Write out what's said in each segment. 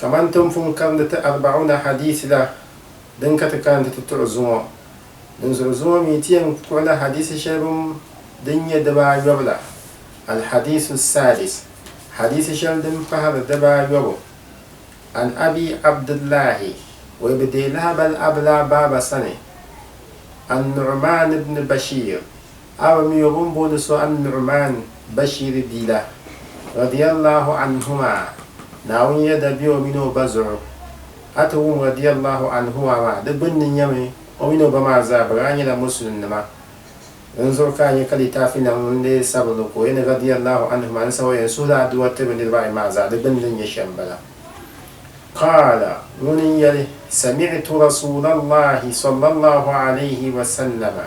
Kaman ti ni pun karindi ti Arba'una hadiisi la din ka ti kaanti ti tuɣi zuŋɔ, dinzuɣu zuŋɔ mi ti yɛn kuɣila hadiisi shɛli bim din nyɛ dibaayɔbu la, Al-Hadiisu Saadis, hadiisi shɛli din pahiri dibaayɔbu, An Abi Abdillahi, o yi bi deei lahabali Abla baaba sani, An-Nu'umaan ibn Bashiir, Aba mi o bini booni so An-Nu'maan, Bashiiri bia la, radiyallahu anhuma, Naawuni yɛda be o mini o ba zuɣu. A ti wum radiyallahu anhuma maa, di gbunni nyɛmi o mini o ba maa zaa bɛ daa nyɛla Musulinnima. Din zuɣu ka a nya ka litaafinima ŋun lee sabi ni ka o yɛn radiyallahu anhuma n-sabi o yɛn suhi la aduwa tiri bɛ niriba ayi maa zaa, di gbunni din nyɛ shɛm m-bala. Qaala, ŋuni n-yɛli, Sami'tu Rasuulallahi, sallallahu alayhi wa sallama,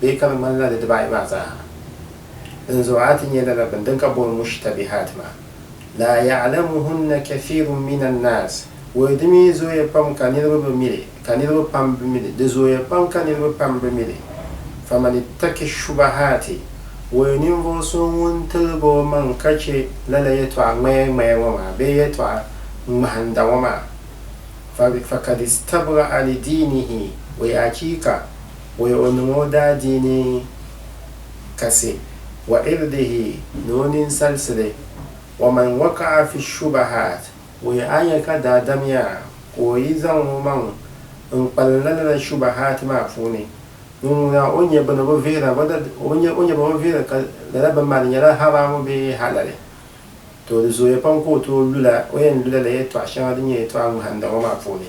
bee ka di ŋmanila di dibaayi maa zaaha. Din zuɣu a ti nya lala bini din ka booni mushtabihat maa, laa ya'lamuhunna kathirun mina nnaas, bɔyi di mi zooya pam ka niriba bi mi li, ka niriba pam bi mi li, di zooya pam ka niriba pam bi mi li, faman ittaki shubahaati, bɔyi ninvuɣu so ŋun tiligi o maŋ ka chɛ lala yɛtɔɣa ŋmaya ŋmaya ŋɔ maa bee yɛtɔɣa ŋmahinda ŋɔ maa, fa, fakad istabra'a li diinihi, bɔyi achiika! Bɔy o niŋ o daadiini kasi, wa irdihi ni o ninsalisili, wa man waka'a fi shubahaat, bɔy a nya ka daadamiya ka o yi zaŋ o maŋ n kpalim la lala shubahaat maa puuni, ŋun ŋuna o nya bini o bi vihira, bɔda o nya o nya bini o vihira ka lala bini maa di nyɛla haraamu bee halali, to di zooya pam ka o tooi lula o yɛn lula la yɛtɔɣ shɛŋa din nyɛ yɛtɔɣ ŋmahinda ŋɔ maa puuni.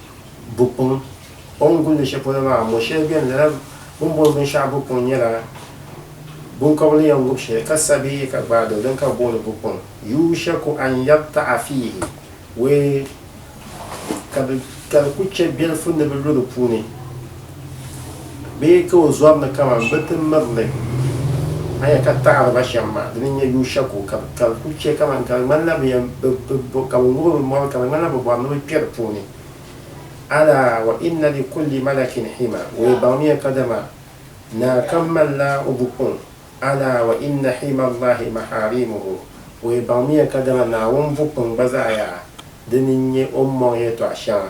bukuŋ. O ni gulindi shɛli polo maa, mo shɛli beni lala bɛ ni booni binshɛɣu bukuŋ nyɛla binkɔbigu ni yɛn ŋub shɛli ka sa bee ka gbaai doli din ka bɛ booni bukuŋ. Yuushaku an yabta'a fiihi wee ka di ku chɛ bilifu ni bɛ lu di puuni. Bɛ yi ka o zɔri ni kaman bɛ ti miri li, a nya ka taɣiriba shɛm maa, dini n-nyɛ Yushako, ka ka di kul chɛ kaman ka di ŋmanila bɛ yɛn bi, bi, bi, ka bɛ ŋub bɛ mɔri, ka di ŋmanila bɛ bɔri ni bɛ kpe di puuni. Alaa wa inna li kulli malakin hima, o yi baŋmiya kadama naa kam malila o bukuŋ, alaa wa inna hima Allahi mahaarimuhu, o yi baŋmiya kadama Naawuni bukuŋ gba zaɣ yaa, dini n-nyɛ o ni mɔŋ yɛtɔɣ shɛŋa.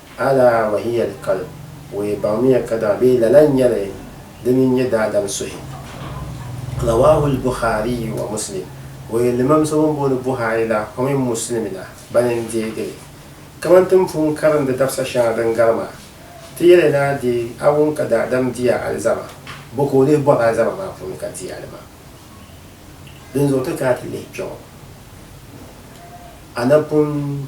Ala wa hiya al-qalb, o yi baŋmiya ka daɣi bee lala n-nyɛli di mini nyɛ daadam suhi. Rawaahu al-Bukhaariyu wa Muslim, o yi limam so bɛn booni Buhari la o mini Muslimi la bani n-deegi li. Kaman ti ni pun karindi dabisa shɛŋa din gari maa, ti yɛli ni a deei a ŋun ka daadam diya alizama, bɔ ka o lihi bɔri alizama maa puuni ka deei a li maa. Dinzuɣu ti kana ti lihi kpiɔŋɔ, a na pun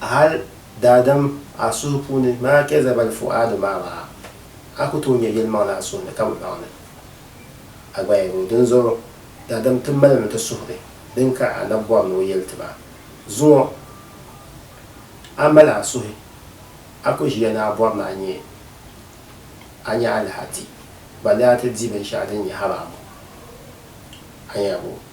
Hal daadam a suhu puuni maa kpe zabali fu'aadu maa maa, a ku tooi nya yelimaŋli a suhu ni ka bi baŋ ni a gba yɛli o. Dinzuɣu daadam ti malimi ti suhuri din ka a na bɔri ni o yeli ti ba. Zuŋɔ a mali a suhi, a ku ʒiya ni a bɔri ni a nya a nya alaha ti ba ni a ti di binshɛɣu din nyɛ haba amu a nya bo.